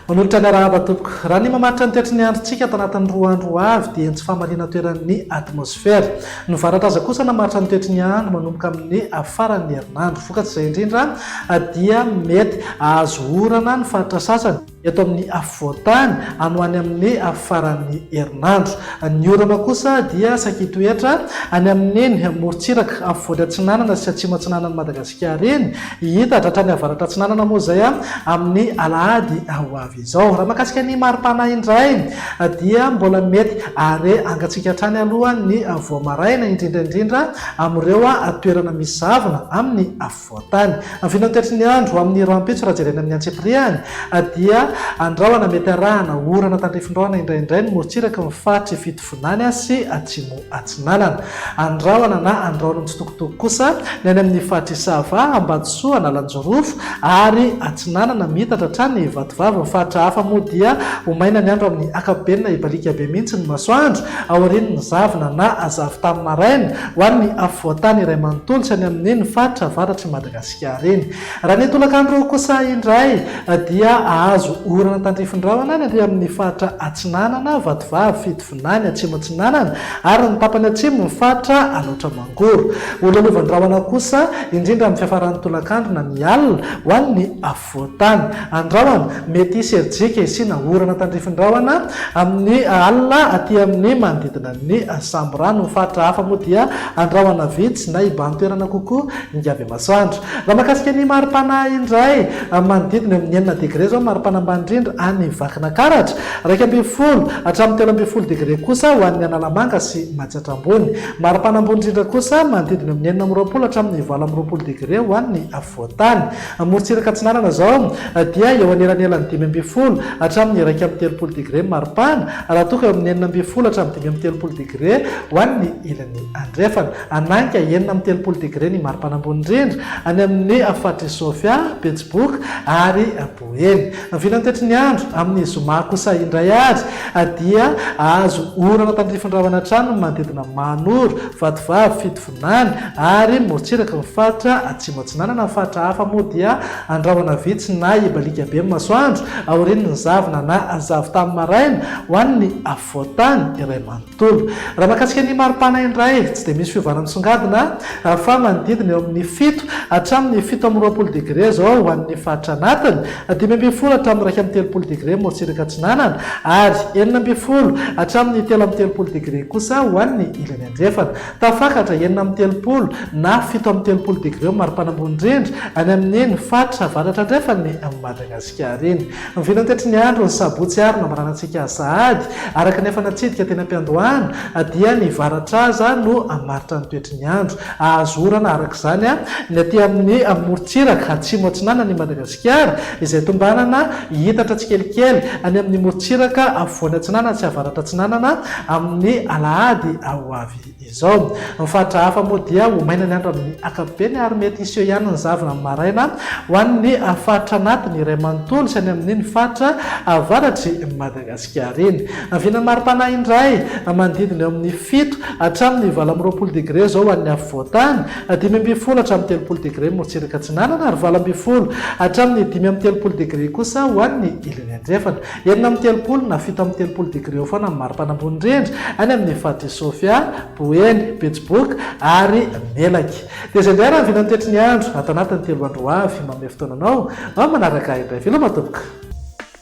Manolotra ny arahaba tompoko. Raha ny mamaritra ny toetry ny androntsika ato anatin'ny roa andro ho avy dia ny tsy fahamaliana toeran'ny atmosfera. Ny varatra aza kosa namaritra ny toetry ny andro manomboka amin'ny faran'ny herinandro. Vokatr'izay indrindra dia mety hahazo orana ny faritra sasany. eto amin'ny afovoan-tany any ho any amin'ny faran'ny herinandro. Ny orana kosa dia saika hitoetra any amin'iny morontsiraka afovoany-atsinanana sy atsimo-atsinanan'i Madagasikara iny, hihitatra hatrany avaratra-atsinanana moa izay amin'ny alahady ho avy izao. Raha mahakasika ny mari-pana indray dia mbola mety hare angantsika hatrany aloha ny vao maraina, indrindra indrindra amin'ireo toerana misy zavona amin'ny afovoany. voantany. Amin'ny vinantoetry ny andro amin'ny rahampitso raha jerena amin'ny antsipirihany dia andrahona mety arahana orana tandrifindrahona indraindray ny morontsiraky ny faritry Fitovinany sy Atsimo Atsinanana. Andrahona na andrahon'ny tsitokotoko kosa ny any amin'ny faritry Isava, Ambatosoa, Analanjirofo ary Atsinanana miitatra hatrany Ivatovavy. Ny faritra hafa moa dia ho maina ny andro amin'ny akapobeny na hibaliaka be mihitsy ny masoandro aorian'ny zavona na zavon-tany maraina. Ho an'ny afovoan-tany iray manontolo sy any amin'ny ny faritra avaratr'i Madagasikara eny. Raha ny tolakandro kosa indray dia hahazo orana tandrifin-drahona any ary amin'ny faritra Atsinanana, Vatovavy, Fitovinany, Atsimo-Atsinanana ary ny tapany atsimo ny faritra Alaotra Mangoro. Ho lolovan-drahona kosa indrindra amin'ny fiafaran'ny tolakandro na ny alina ho an'ny Voatany. Andrahona, mety hisy herijika hisiana orana tandrifin-drahona amin'ny alina aty amin'ny manodidina ny samborano. Ny faritra hafa moa dia andrahona vitsy na hibahan-toerana kokoa hingavy masoandro. Raha mahakasika ny mari-pana indray, manodidina eo amin'ny enina degre izao ny mari-pana ambany indrindra any Vakinakaratra, iraika ambin'ny folo hatramin'ny telo ambin'ny folo degre kosa ho an'ny Analamanga sy Matsiatra Ambony. Mari-pana ambony indrindra kosa manodidina eo amin'ny enina amby roapolo hatramin'ny valo amby roapolo degre ho an'ny Afovoantany. Amorontsiraka Atsinanana izao dia eo anelanelan'ny dimy ambin'ny folo hatramin'ny iraika amby telopolo degre ny maripana, raha toa ka eo amin'ny enina ambin'ny folo hatramin'ny dimy amby telopolo degre ho an'ny ilany andrefana. Hananka enina amby telopolo degre ny maripana ambony indrindra any amin'ny faritr'i Sofia, Betsiboka ary Boeny. Ny filan'ny toetry ny andro amin'ny zoma kosa indray ary dia hahazo orana tandrifin-drahona hatrany ny manodidina Mahanoro, Vatovavy, Fito, Nany, ary ny morontsiraky ny faritra Atsimo Atsinanana amin'ny faritra hafa moa dia andrahona vitsy na hibaliaka be ny masoandro aorian'ny zavona na zavon-tany maraina ho an'ny afovoan-tany iray manontolo. Raha mahakasika ny maripana indray, tsy dia misy fiovana misongadina fa manodidina eo amin'ny fito hatramin'ny fito amby roapolo degre izao ho an'ny faritra anatiny, dimy ambin'ny folo hatramin'ny iraika amby telopolo degre morontsiraka atsinanana ary enina ambin'ny folo hatramin'ny telo amby telopolo degre kosa ho an'ny ilany andrefana. Tafakatra enina amby telopolo na fito amby telopolo degré ho mari-pana ambony indrindra any amin' eny faritra avaratra andrefan' i Madagasikara eny. Mivinan' tetry ny andron' ny sabotsy ary nambaranantsika sahady araka ny efa natsidika teny am-piandohana dia ny varatraza no hamaritra ny toetry ny andro. Hahazo orana araka izany ny aty amin' ny morontsiraka atsimo-atsinanan' i Madagasikara. Piara, izay tombanana hiitatra tsikelikely any amin'ny morontsiraka afovoany atsinanana sy avaratra atsinanana amin'ny alahady ho avy izao. Ny faritra hafa moa dia ho maina ny andro amin'ny ankapobeny ary mety hiseho ihany ny zavona amin'ny maraina ho an'ny faritra anatiny iray manontolo sy any amin'iny faritra avaratr'i Madagasikara. Giareny. Haviana mari-panahy indray, manodidina eo amin'ny fito hatramin'ny valo amby roapolo degre izao ho an'ny afovoan-tany, dimy ambin'ny folo hatramin'ny telopolo degre morotsiraka atsinanana ary valo ambin'ny folo hatramin'ny dimy amby telopolo degre kosa ho an'ny ilany andrefana. Enina amby telopolo na fito amby telopolo degre eo foana ny mari-pana ambony indrindra any amin'ny faritr'i Sofia, Boeny, Betsiboka ary Melaky. Dia izay indray raha haviana ny toetry ny andro ato anatin'ny telo andro ho avy. Manome fotoana anao mba manaraka ahy indray. Veloma tompoko.